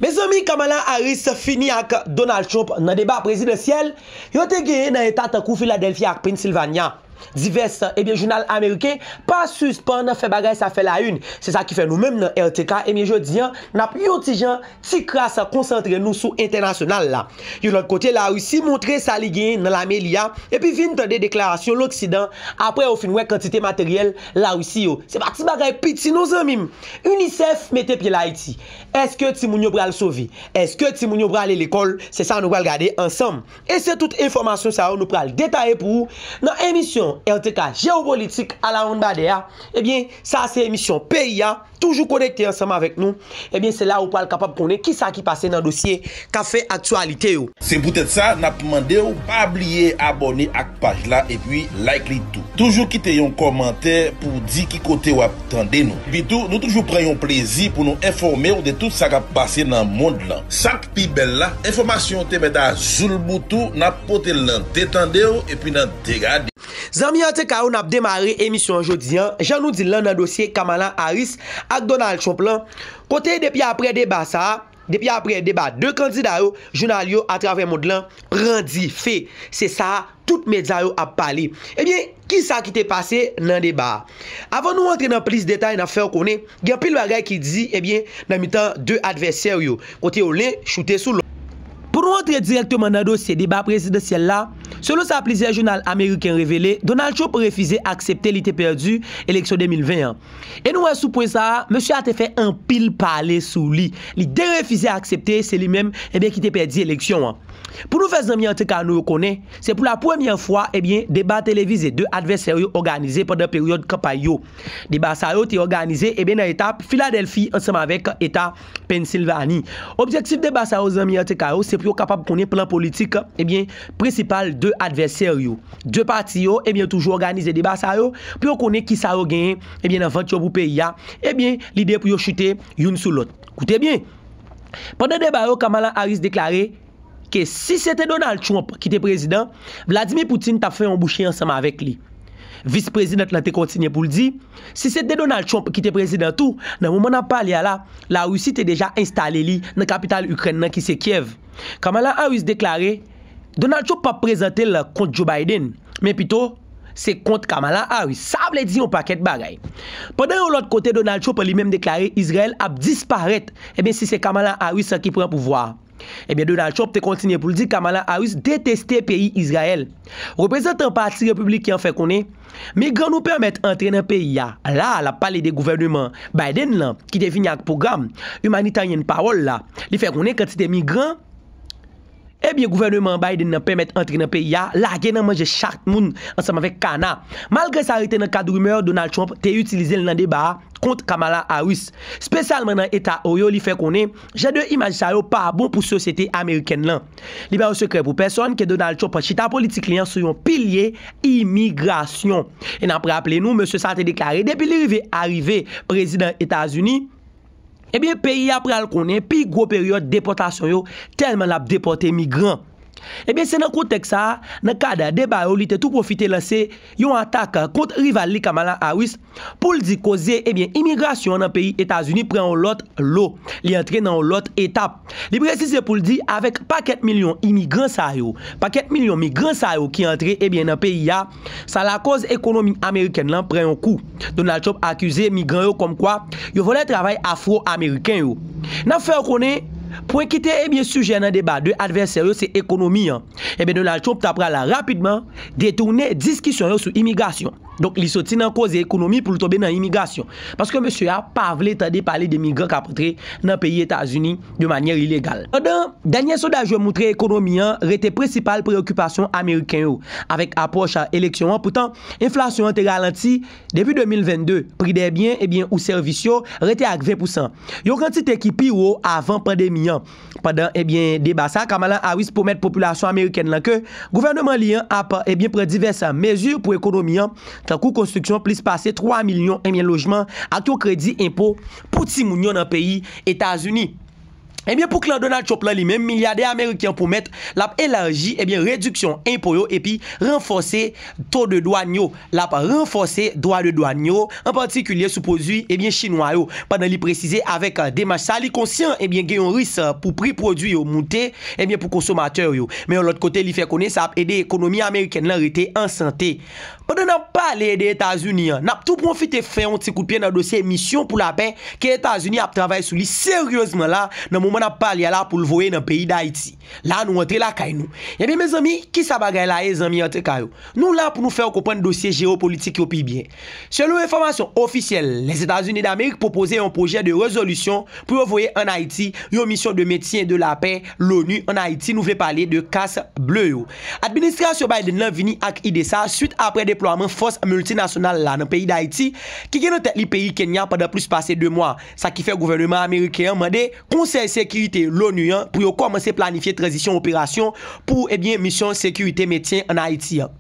Mezanmi Kamala Harris fini ak Donald Trump nan deba prezidansyèl yo te genyen nan eta tankou Philadelphia ak Pennsylvania. Divès ebyen jounal ameriken pa sispann fè bagay sa fè la une, se sa ki fè nou menm nan RTK ebyen jodi an nap yon ti jan ti kras konsantre nou sou entènasyonal la. Yon lòt kote la Russie montre sa li genyen nan lame li a epi vin tande deklarasyon loksidan aprè yo fin wè kantite materyèl la Russie yo se pa ti bagay piti non zanmim. UNICEF mete pye l Ayiti. Èske timoun yo pral sove? Èske timoun yo prale lekòl? Se sa nou pral gade ansanm. E se tout enfòmasyon sa yo nou pral detaye pou ou nan emisyon RTK Jewopolitik Alawonnbadè a. Ebyen, sa a se emisyon peyi a. Toujou konekte ansanm avèk nou. Ebyen, se la ou pral kapab konnen kisa ki pase nan dosye. kap fè aktyalite yo. Se poutèt sa nap mande w pa bliye abòne ak paj la epi like li tou. Toujou kite yon kòmantè pou w di ki kote wap tande nou. Epi tou nou toujou pran yon plezi pou nou enfòme w de tout sa kap pase nan mond lan. Sak pi bèl la, enfòmasyon yo te mèt a zoulboutou, nap pote l nan de tande w epi nan de gade w. Zanmi ATK yo nap demare emisyon an jodi an jan nou di l lan nan dosye Kamala Harris ak Donald Trump lan, kote depi aprè deba sa a, Depi aprè deba 2 kandida yo, jounal yo atravè mond lan pran dife. Se sa a tout medya yo ap pale. Ebyen, ki sa ki te pase nan deba a? Avan nou antre nan plis detay, n ap fè w konnen gen anpil bagay ki di, ebyen, nan mitan 2 advèsè yo, kote yo len choute sou lòt. Pou nou antre dirèkteman nan dosye deba prezidansyèl la, selon sa plizyè jounal ameriken revele, Donald Trump refize aksepte li te pèdi eleksyon 2020 an. E nou wè sou pwen sa a, mesye a te fè anpil pale sou li. Li derefize aksepte se li menm ebyen ki te pèdi eleksyon an. Pou nou fè zanmi anteka nou yo konnen, se pou lapremyè fwa ebyen deba televize 2 advèsè yo òganize pandan peryòd kanpay yo. Deba sa yo te òganize ebyen nan eta Filadèlfi ansanm avèk eta. Pennsilvani. Objektif deba sa yo zanmi RTK yo se pou yo kapab konnen plan politik ebyen prensipal 2 advèsè yo. 2 pati yo ebyen toujou òganize deba sa yo pou yo konnen kisa yo genyen ebyen nan vant yo pou peyi a ebyen lide pou yo chute youn sou lòt. Koute byen! Pandan deba yo Kamala Harris deklare. ke si se te Donald Trump ki te prezidan, Vladimir Putin tap fè yon bouche ansanm avèk li. Vis prezidant lan te kontinye pou l di, si se te Donald Trump ki te prezidan tou, nan moman nap pale a la, Larisi te deja enstale li nan kapital Ikrèn nan ki se Kyèv. Kamala Harris deklare, Donald Trump pap prezante l kont Joe Biden, men pito se kont Kamala Harris. Sa vle di yon pakèt bagay. Pandan yon lòt kote Donald Trump li menm deklare Izrayèl ap disparèt, ebyen si se Kamala Harris ki pran pouvwa a. Ebyen Donald Trump te kontinye pou l di Kamala Harris deteste peyi Izrayèl. Reprezantan pati Repibliken an fè konnen, Migran nou pèmèt antre nan peyi a, la a l ap pale de gouvèneman Biden lan ki te vini ak pwogram imanitaryen pawòl la, li fè konnen kantite migran ebyen gouvèneman Biden lan pèmèt antre nan peyi a lage nan manje chat moun ansanm avèk kana. Malgre sa rete nan kad rimè, Donald Trump te itilize l nan deba a kont Kamala Harris. Spesyalman nan eta Ohio li fè konnen, Jan de imaj sa yo pa bon pou sosyete amerikèn lan. Li pa yon sekrè pou pèsòn ke Donald Trump pran chita politik li an sou yon pilye imigrasyon. E n ap raple nou, mesye sa te deklare depi li rive arive prezidan Etazini, ebyen peyi a pral konnen pi gwo peryòd depòtasyon yo tèlman l ap depòte migran. Ebyen se nan kontèks sa a, nan kad deba yo li te tou pwofite lanse, yon atak kont rival li Kamala Harris pou l di koze ebyen imigrasyon an nan peyi Etazini pran yon lòt lo, li antre nan yon lòt etap. Li presize pou l di avèk pakèt milyon imigran sa yo, pakèt milyon migran sa yo ki antre ebyen nan peyi a, sa lakoz ekonomi amerikèn lan pran yon kou. Donald Trump akize migran yo kòmkwa yo vòlè travay afro-ameriken yo. N ap fè w konnen, pwen ki te ebyen sijè nan deba 2 advèsè yo se ekonomi an. Ebyen Donald Trump ta pral rapidman. detounen diskisyon yo sou imigrasyon. Donk li soti nan koze ekonomi pou l tonbe nan imigrasyon. Paske mesye a pa vle tande pale de migran k ap antre nan peyi Etazini de manyè ilegal. Pandan, dènye sondaj yo moutre ekonomi an rete prensipal preyokipasyon ameriken yo. Avèk apwòch eleksyon an poutan, enflasyon an te ralanti depi 2022. Pri dè byen ebyen ou sèvis yo rete ak 20 pousan, yon kantite ki pi wo avan pandemi an. Pandan ebyen deba sa, Kamala Harris pwomèt popilasyon amerikèn lan ke gouvèneman li an ap ebyen pran divès mezi pou ekonomi an, tankou konstriksyon plis pase 3 milyon ebyen lojman ak yon kredi enpo pou timoun yo nan peyi Etazini. Ebyen pou klan Donald Trump lan li menm, milyadè ameriken an pwomèt l ap elaji ebyen rediksyon enpo yo epi ranfòse to de dwàn yo. L ap ranfòse dwa de dwàn yo, an patikilye sou pwodui ebyen chinwa yo, pandan li presize avèk demach sa a li konsyan ebyen gen yon ris pou pri pwodui yo moute ebyen pou konsomatè yo. Men yon lòt kote li fè konnen sa ap ede ekonomi amerikèn lan rete an sante. Pandan n ap pale de Etazini an, n ap tou pwofite fè yon ti kout pye nan dosye misyon pou lapè ke Etazini ap travay sou li seryezman la nan moman n ap pale a la pou l voye nan peyi Dayiti. La nou antre lakay nou. Ebyen mezanmi kisa bagay la ye zanmi anteka yo. Nou la pou nou fè ou konprann dosye jewopolitik yo pi byen. Selon enfòmasyon ofisyèl, Lèzetazini Damerik pwopoze yon pwojè de rezolisyon pou yo voye an Ayiti yon misyon de mentyen de lapè LONU an Ayiti nou vle pale de kas ble yo. Administrasyon Biden lan vini ak ide sa swit aprè deplwaman fòs miltinasyonal la nan peyi Dayiti ki gen nan tèt li peyi Kenya pandan plis pase 2 mwa, sa ki fè gouvèneman ameriken an mande Konsèy Sekirite l'ONU an pou yo kòmanse planifye tranzisyon operasyon pou ebyen misyon sekirite mentyen an Ayiti an.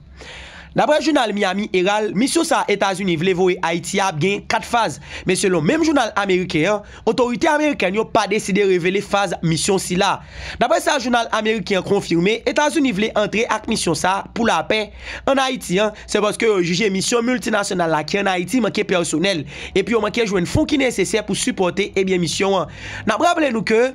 Daprè jounal Miami Herald, misyon sa a Etazini vle voye Ayiti a ap gen 4 faz, men selon menm jounal ameriken an, otorite amerikèn yo pa deside revele faz misyon sila. Daprè sa jounal ameriken an konfime, Etazini vle antre ak misyon sa a pou lapè, Ann Ayiti an, se paske yo jije misyon miltinasyonal la ki ann Ayiti manke pèsonèl, epi yo manke jwenn fon ki nesesè pou sipòte ebyen misyon an. N ap raple nou ke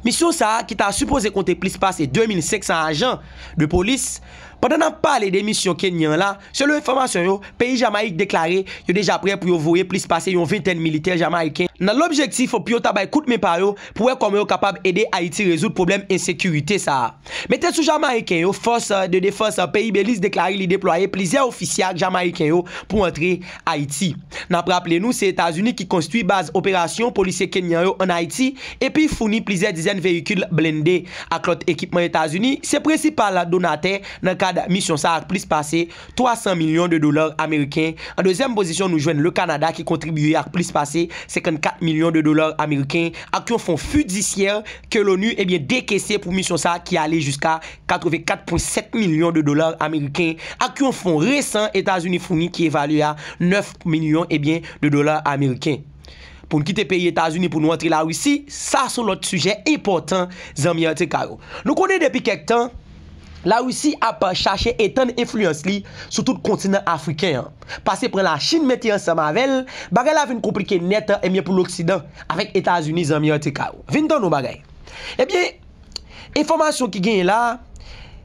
misyon sa a ki ta sipoze konte plis pase 2500 ajan de polis, pandan n ap pale de misyon Kenyan an la, selon enfòmasyon yo, peyi Jamayik deklare yo deja prè pou yo voye plis pase yon ventèn militè Jamayiken, nan lobjektif pou yo ta bay kout men pa yo pou wè kòman yo kapab ede Ayiti rezoud pwoblèm ensekirite sa a. Mete sou Jamayiken yo, Fòs de Defans peyi Beliz deklare li deplwaye plizyè ofisye ak Jamayiken yo pou antre Ayiti. N ap raple nou se Etazini ki konstwi baz operasyon polisye Kenyan yo an Ayiti epi founi plizyè dizèn veyikil blende ak lòt ekipman Etazini se prensipal donatè nan kad misyon sa ak plis pase 300 milyon de dolar ameriken. An dezyèm pozisyon nou jwenn Le Kanada ki kontribye ak plis pase 54 milyon de dolar ameriken ak yon fon fidisyè ke l'ONU ebyen dekese pou misyon sa ki ale jiska 84,7 milyon de dolar ameriken ak yon fon resan Etazini founi ki evalye a 9 milyon ebyen de dolar ameriken. Poun kite peyi Etazini pou nou antre Larisi, sa son lòt sijè enpòtan zanmi RTK yo. Nou konnen depi kèk tan. Larisi ap chache etann enfliyans li sou tout kontinan afriken an. Pase pran Lachin mete ansanm avè l, bagay la vin konplike nèt ebyen pou loksidan avèk Etazini zanmi anteka yo. Vin tann yon bagay. Ebyen, enfòmasyon ki genyen la,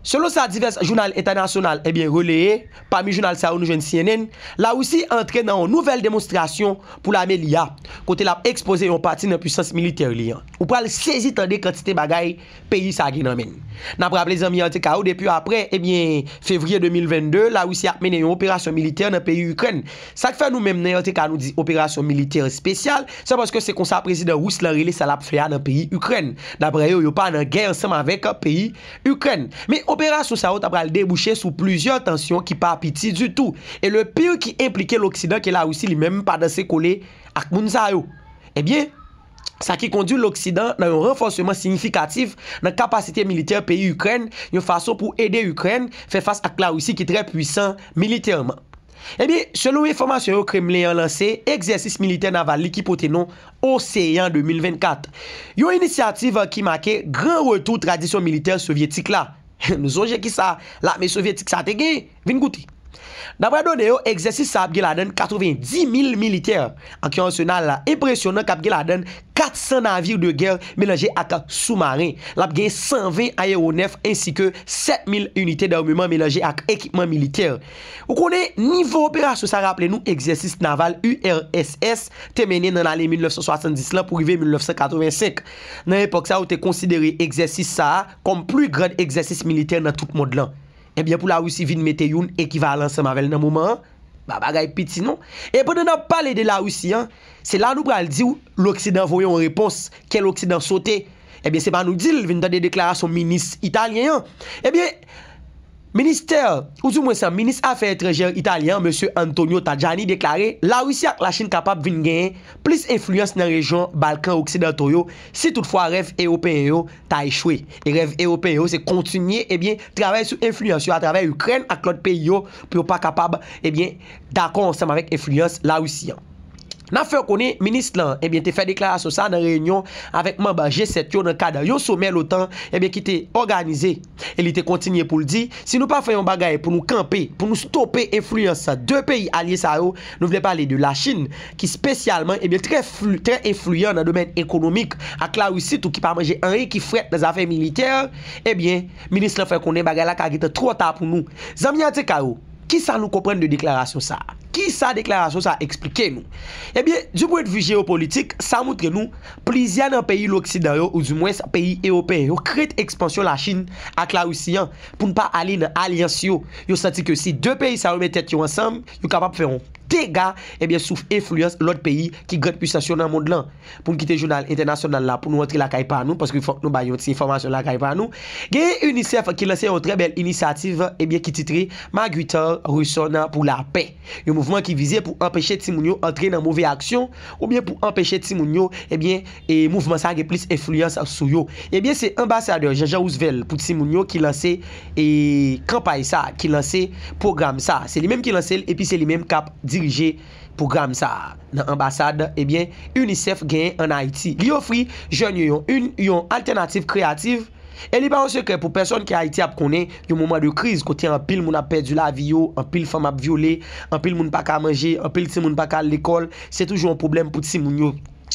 selon sa divès jounal entènasyonal ebyen releye, pami jounal sa yo nou jwenn cnn, Larisi antre nan yon nouvèl demonstrasyon pou lame li a, kote l ap ekspoze yon pati nan pwisans militè li an. Ou pral sezi tande kantite bagay peyi sa gen nan men n. N ap raple zanmi RTK yo depi apre ebyen fevriye 2022 Larisi ap mennen yon operasyon militè nan peyi Ikrèn. Sa k fè nou menm nan RTK nou di operasyon militè espesyal, se paske se konsa prezidan ris lan rele sa l ap fè a nan peyi Ikrèn. Daprè yo, yo pa nan gè ansanm avèk peyi Ikrèn. Men operasyon sa yo ta pral debouche sou plizyè tansyon ki pa piti ditou. E le pire ki enplike loksidan ke Larisi li menm pa danse kole ak moun sa yo. Ebyen. sa ki kondui loksidan nan yon ranfòseman siyifikatif nan kapasite militè peyi Ikrèn yon fason pou ede Ikrèn fè fas ak Larisi ki trè pwisan militèman. Ebyen, selon enfòmasyon yo Kremlen an lanse egzèsis militè naval li ki pote non Oseyan 2024, yon inisyativ ki make gran retou tradisyon militè sovyetik la. Nou sonje kisa lame sovyetik sa te gen? Vin koute! Daprè done yo, egzèsis sa ap gen ladann 90 mil militè ak yon arsenal enpresyonan k ap gen ladann 400 navire de gè melanje ak soumaren. L ap gen 120 ayewonèf ensi ke 7 mil inite darmeman melanje ak ekipman militè. Ou konnen, nivo operasyon sa raple nou egzèsis naval URSS te mennen nan lane 1970 lan pou rive 1985. Nan epòk sa yo te konsidere egzèsis sa a kòm pli grand egzèsis militè nan tout mond lan. Ebyen pou la Russie vin mete youn ekivalan ansanm avèl nan moman an, ba bagay piti non. E pandan nap pale de la Russie an, se la nou pral diw loksidan voye yon repons, kè loksidan sote, ebyen se pa nou dil, vin tande deklarasyon minis italyen an. Ebyen Ministè, ou di mwen sa, minis afè etranjè italyen an mesye Antonio Tajani deklare la Russie ak la Chine kapab vin genyen plis enfliyans nan rejyon Balkan oksidanto yo si tout fwa rèv ewopeyen yo ta echwe. E rèv Ewopeyen yo se kontinye, ebyen, travay sou enfliyans yo atravè Ikrèn ak lòt peyi yo pou yo pa kapab, ebyen, dakò ansanm avèk enfliyans Larisi an. N ap fè w konnen minis lan, ebyen, te fè deklarasyon sa a nan reyinyon avèk manb G7 yo nan kad yon somè l'OTAN, ebyen, ki te òganize. E li te kontinye pou l di, si nou pa fè yon bagay pou nou kanpe, pou nou stope enfliyans 2 peyi alye sa yo, nou vle pale de Lachin, ki spesyalman, ebyen trè, trè enfliyan nan domèn ekonomik, ak Larisi tou ki pa manje anyen ki frèt nan zafè militè, ebyen, minis lan fè konnen bagay la ka gentan twò ta pou nou. Zanmi atk yo! Ki sa nou konprann de deklarasyon sa a? Ki sa deklarasyon sa a esplike nou? Ebyen, di pwen de vi jeyopolitik, sa montre nou plizyè nan peyi loksidan yo, oudimwens peyi ewopeyen yo, krent ekspansyon Lachin ak Larisi an pou n pa ale nan alyans yo. Yo santi ke si 2 peyi sa yo met tèt yo ansanm, yo kapab fè yon dega ebyen sou enfliyans lòt peyi ki gran pwisans yo nan mond lan. pou n kite jounal entènasyonal la pou nou antre lakay pa nou paske fòk nou bay yon ti enfòmasyon lakay pa nou genyen UNICEF ki lanse yon trè bèl inisyativ ebyen ki titre Marguitar Reson pou la pè yon mouvman ki vize pou anpeche timoun yo antre nan move aksyon oubyen pou anpeche timoun yo ebyen e mouvman sa gen plis enfliyans sou yo ebyen se anbasadè Jean Jean Roosevelt pou timoun yo ki lanse e kanpay sa ki lanse pwogram sa se li menm ki lanse l epi se li menm kap dirije Pwogram sa a nan anbasad ebyen UNICEF genyen an Ayiti. Li ofri jèn yo yon yn yon altènativ kreyativ e li pa yon sekrè pou pèsòn ke Ayiti ap konnen yon moman de kriz kote anpil moun ap pèdi lavi yo, anpil fanm ap vyole, anpil moun pa ka manje, anpil timoun pa ka al lekòl, se toujou yon pwoblèm pou timoun yo.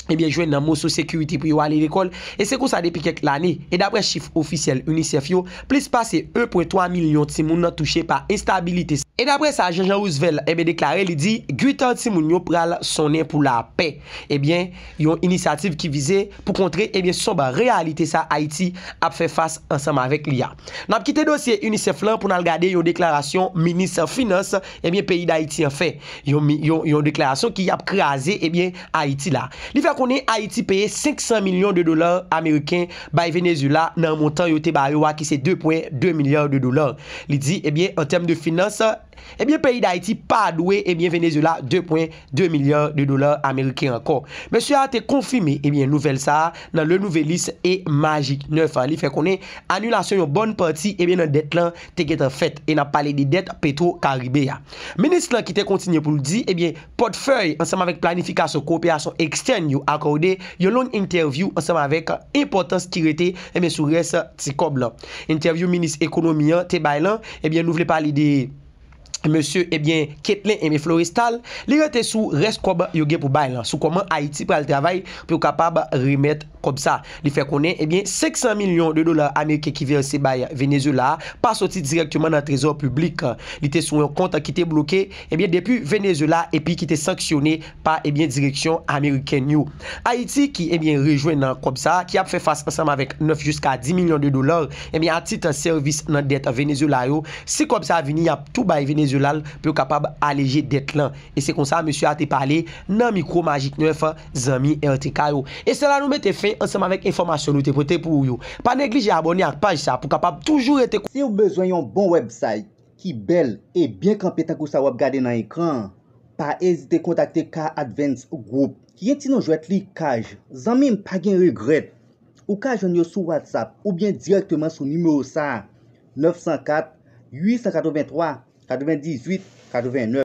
ebyen jwenn nan moso sekirite pou yo ale lekòl, e se konsa depi kèk lane, e daprè chif ofisyèl UNICEF yo, plis pase 1.3 milyon timoun nan touche pa enstabilite. E daprè sa Jean Jean Roosevelt ebyen deklare li di Guitar timoun yo pral sonnen pou lapè, ebyen yon inisyativ ki vize pou kontre ebyen sonb reyalite sa Ayiti ap fè fas ansanm avèk li a. N ap kite dosye UNICEF lan pou n al gade yon deklarasyon minis finans ebyen peyi Dayiti an fè, yon yon deklarasyon ki ap kraze ebyen Ayiti la. Li fè konnen Ayiti peye 500 milyon de dola ameriken bay Venezyela nan montan yo te ba yo a ki se 2 pwen 2 milya de dola. Li di ebyen an tèm de finans ebyen peyi Dayiti pa dwe ebyen Venezyela 2 pwen 2 milya de dola ameriken ankò. Mesye a te konfime ebyen nouvèl sa a nan Le Nouvelliste e Magic 9. Li fè konnen anilasyon yon bòn pati ebyen nan dèt lan te gentan fèt e n ap pale de dèt Petro Caribe a. Minis lan ki te kontinye pou l di ebyen. Pòtfèy ansanm avèk planifikasyon kowoperasyon ekstèn yo akòde yon long entèvyou ansanm avèk enpòtans ki rete ebyen sou rès ti kòb lan. Entèvyou minis ekonomi an te bay lan ebyen nou vle pale de mesye ebyen Ketlen ebyen Florestal li rete sou rès kòb yo gen pou bay lan sou kòman Ayiti pral travay pou yo kapab remèt kòb sa. Li fè konnen ebyen 500 milyon de dola ameriken ki vèse bay Venezuela a pa soti dirèkteman nan trezò piblik. Li te sou yon kont ki te bloke ebyen depi Venezuela epi ki te sanksyone pa ebyen direksyon amerikèn yo. Ayiti ki ebyen rejwenn nan kòb sa ki ap fè fas ansanm avèk 9 jiska 10 milyon de dola ebyen a tit sèvis nan dèt Venezuela yo. Si kòb sa vini y ap tou bay Venezuela l pou yo kapab aleje dèt lan. E se konsa mesye a te pale nan mikwo Magik 9. Zanmi RTK yo. E se la nou mete fen ansanm avèk enfòmasyon nou te pote pou ou yo. Pa neglije abòne ak paj sa pou kapab toujou rete. Siw bezwen yon bon website ki bèl e byen kanpe tankou sa wap gade nan ekran an, pa ezite kontakte K Advance Group ki gen ti non jwèt li Kaj. Zanmim pa gen regrèt. Ou ka jwenn yo sou WhatsApp oubyen dirèkteman sou nimewo sa a, 904 883 98 89.